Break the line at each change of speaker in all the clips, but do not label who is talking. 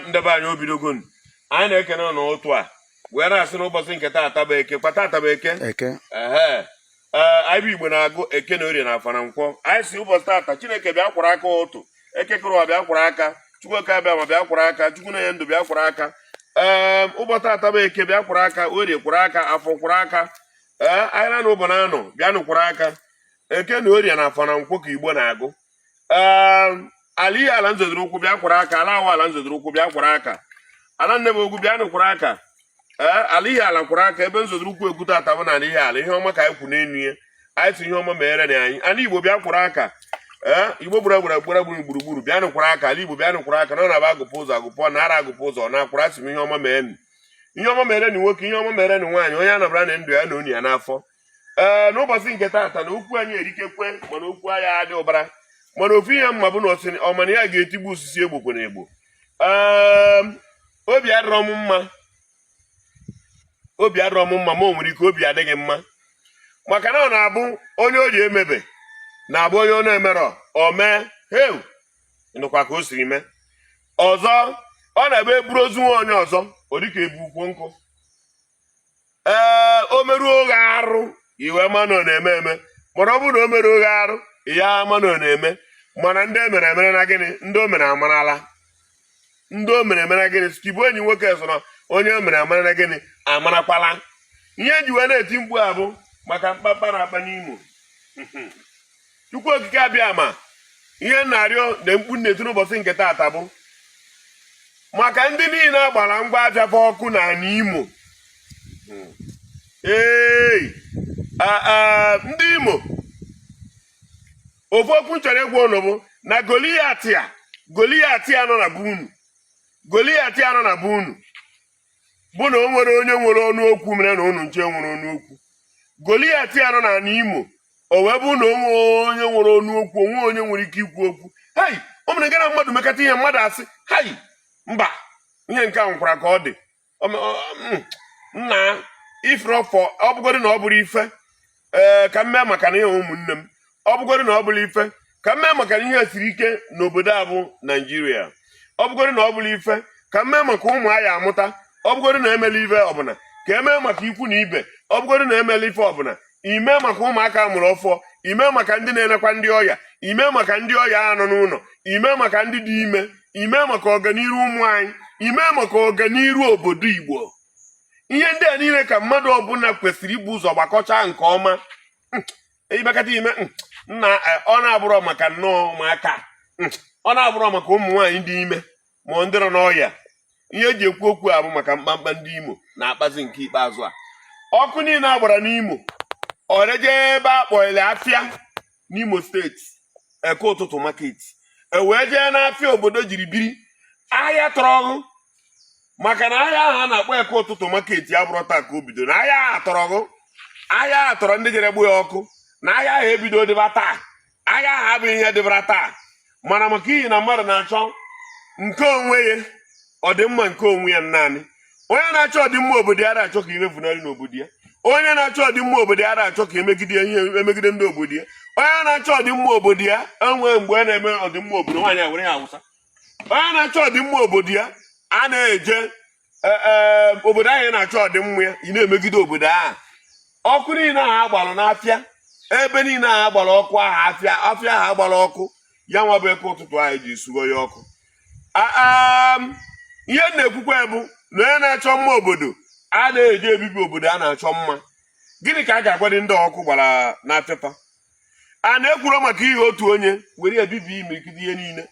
ndị be anyị o bidogo na anyị na-ekene n'ụtụtụ a wee na-asị n'ụbọchị nke taata bụ eke ka taata bụ eke ee anyị bụ igbo na-agụ eke na orie na afọ na nkwọ anyị sị ụbọchị taata chineke bịa kwọrọ aka ụtụtụ eke kere ụwa bịa kwọrọ aka chukwu okike abịama bịa kwọrọ aka chukwu na-enye ndụ bịa kwọrọ aka ee ụbọchị taata bụ eke bịa kwọrọ aka orie kwọrọ aka afọ kwọrọ aka ee anyị na ụbọ na anọ bịanụ kwọrọ aka eke na orie na afọ na nkwọ ka igbo na-agụ ehm, ala ihiala m zọdoro ụkwụ bịa kwọrọ aka ala awa ala m zọdoro ụkwụ bịa kwọrọ aka ala nne m ogwu bịanụ kwọrọ aka ee eh, ala ihiala kwọrọ aka ebe m zọdoro ụkwụ ekwu taata bụ n'ala ihiala ihe ọma ka anyị kwụ n'elu ya anyị sị ihe ọma mere na anyị ala igbo bịa kwọrọ aka ee eh, igbo gbara gbara gbara gburu gburugburu bịanụ kwọrọ aka ala igbo bịanụ kwọrọ aka na ọ na-abụ agụpụ ụzọ agụpụ ọ na-ara agụpụ ụzọ ọ na-akwara asị m ihe ọma mee ihe ọma mere na nwoke ihe ọma mere na nwaanyị onye anabara na ndụ ya na onye ya n'afọ ee n'ụbọchị nke taata na okwu anyị erikekwe mana okwu anyị adị ụbara mana ofu ihe m ma bụ na ọ ma na ya ga-etigbu osisi egbokwe na egbo ee obi adịrọ m mma obi adịrọ m mma ma o nwere ike obi adịghị mma maka na ọ na-abụ onye o ji emebe na-abụ onye ọ na-emerọ o mee heu nụkwa ka o siri mee ọzọ ọ na-abụ e buru ozu nwa onye ọzọ ọ dịka e bu ukwu nkụ ee o meruo ghị arụ i wee ma na ọ na-eme eme mana ọ bụrụ na o merọ ghị arụ ị ya ama na ọ na-eme mana ndị o mere emere na gịnị ndị o mere amarala ndị o mere emere gịnị skibụ enyi nwoke so na onye o mere amara na gịnị amarakwala ihe e ji wee na-eti mkpu a bụ maka mkpakpa a na-akpa n'imo Chukwu okike abịama ihe m na-arịọ na mkpu m na-eti n'ụbọchị nke taata bụ maka ndị niile a gbara ngwa afịa fa ọkụ n'ala Imo ee ndị Imo ofu okwu m chọrọ ịgwa unu bụ na Goliat a Goliat a nọ na be unu Goliat a nọ na be unu bụ na o nwerọ onye nwere ọnụ okwu mere na unu ncha enwerọ ọnụ okwu Goliat a nọ n'ala Imo o wee bụ na o nwe onye nwere ọnụ okwu o nwe onye nwere ike ikwu okwu hei o mere gara mmadụ mekata ihe mmadụ asị hei mba ihe nke a nwekwara ka ọ dị nna ifrọfọ ọ bụgodị na ọ bụrọ ife ee ka m mee maka n'ihi ụmụnne m ọ bụgoro na ọ bụrọ ife ka m mee maka na ihe siri ike n'obodo a bụ naijiria ọ bụgoro na ọ bụrọ ife ka m mee maka ụmụ a ya-amụta ọ bụgoro na emerọ ife ọbụla ka e mee maka ikwu na ibe ọ bụgoro na emerọ ife ọbụla i mee maka ụmụaka a mụrụ ọfụụ i mee maka ndị na-enekwa ndị ọya i mee maka ndị ọya nọ n'ụlọ i mee maka ndị dị ime i mee maka ọganiru ụmụ anyị i mee maka ọganiru obodo igbo ihe ndị a niile ka mmadụ ọbụla kwesịrị ibu ụzọ gbakọcha nke ọma hmm, ịbakata ime hmm, na e, ọ na-abụrọ maka nnọọ ụmụaka hmm, ọ na-abụrọ maka ụmụ nwaanyị dị ime ma ndị nọ n'ọya ihe eji ekwu okwu a bụ maka mkpamkpa ndị imo na-akpazi nke ikpeazụ a ọkụ niile agbara n'imo ọreje ebe a kpọrọ afịa n'Imo steeti eke ụtụtụ market e wee jee n'afịa obodo jiri biri ahịa tọrọ gụ maka na ahịa ahụ a na-akpọ eke ụtụtụ market abụrọ taa ka o bido na ahịa ahụ tọrọ gụ ahịa ahụ tọrọ ndị jere gbaa ya ọkụ na ahịa ahụ ebido dịba taa ahịa ahụ abụghị ihe dịbara taa mana maka ihi na mmadụ na-achọ nke onwe ya ọdịmma nke onwe ya naanị onye na-achọ ọdịmma obodo ya ada achọ ka ime funarị n'obodo ya onye na-achọ ọdịmma obodo ya ada achọ ka emegide ndị obodo ya onye na-achọ ọdịmma obodo ya enwe mgbe a na-eme ọdịmma obodo nwaanyị were ya awụsa onye na-achọ ọdịmma obodo ya a na-eje e, e, obodo ahụ ị na-achọ ọdịmma ya ị na-emegide obodo ahụ ọkụ niile ahụ agbalụ n'afịa ebe niile ahụ agbara ọkụ ahụ afịa ahụ agbara ọkụ ya nwa bụ eke ụtụtụ ahụ ji sugo ya ọkụ ihe m na-ekwukwa bụ na onye na-achọ mma obodo a na-eje ebibi obodo a na-achọ mma gịnị ka a ga-agwadị ndị ọkụ gbara n'afịa fa a na-ekwuro maka ihi otu onye were ebibi imirikiti ihe niile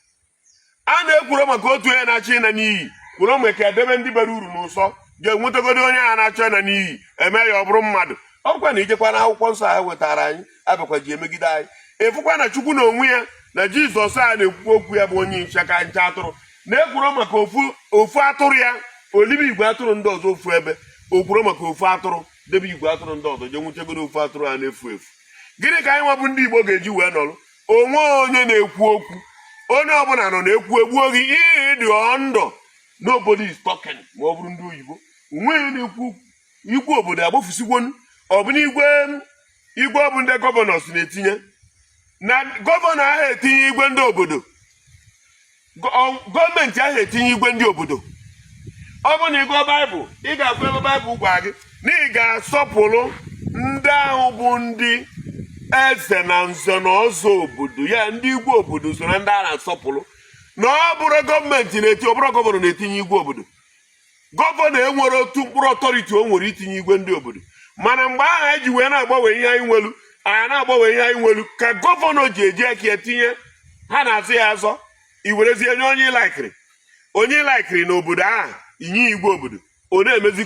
a na-ekwuro maka otu onye na-achọ ịna n'iyi kwuro mgbe ka edebe ndị bara uru n'ụsọ jee wetagodo onye a na-achọ ịna n'iyi eme ya ọ bụrụ mmadụ ọkwa na ijekwa na akwụkwọ nsọ ha wetara anyị abịakwa ji emegide anyị ịfụkwa na chukwu na onwe ya na jizọs a na-ekwukwa okwu ya bụ onye nche ka nche atụrụ na-ekwuro maka ofu atụrụ ya olibe igwe atụrụ ndị ọzọ ofu ebe o kwuro maka ofu atụrụ debe igwe atụrụ ndị ọzọ je nwụchegoro ofu atụrụ a na-efu efu gịnị ka anyị nwa bụ ndị igbo ga-eji wee nọrụ o nweghị onye na-ekwu okwu onye ọbụla nọ na-ekwu egbuo gị ihe dị ndụ nobody is talking ma ọ bụrụ ndị oyibo o nwe onye na-ekwu okwu igwe obodo agbafusigwonu ọbụna igwe igwe ọ bụ ndị gọvanọs na-etinye na gọvanọ aha etinye igwe ndị obodo gọọmenti ahụ etinye igwe ndị obodo ọ bụrụ na ị gụọ baịbụl ị ga-afụ ebe baịbụl gwa gị na ị ga-asọpụrụ ndị ahụ bụ ndị eze na nze na ọzọ obodo ya ndị igwe obodo so na ndị a na-asọpụrụ na ọ bụrọ gọọmenti na-eti ọ bụrọ gọvanọ na-etinye igwe obodo gọvanọ enwerọ otu mkpụrụ authority o nwere itinye igwe ndị obodo mana mgbe ahụ anyị ji wee na-agbanwe ihe anyị nwelu anyị na-agbanwe ihe anyị nwelu ka gọvanọ ji eji aka ya tinye ha na-azọ ya azọ i werezie nye onye ị laikiri onye ị laikiri na obodo ahụ i nye igwe obodo ọ na-emezi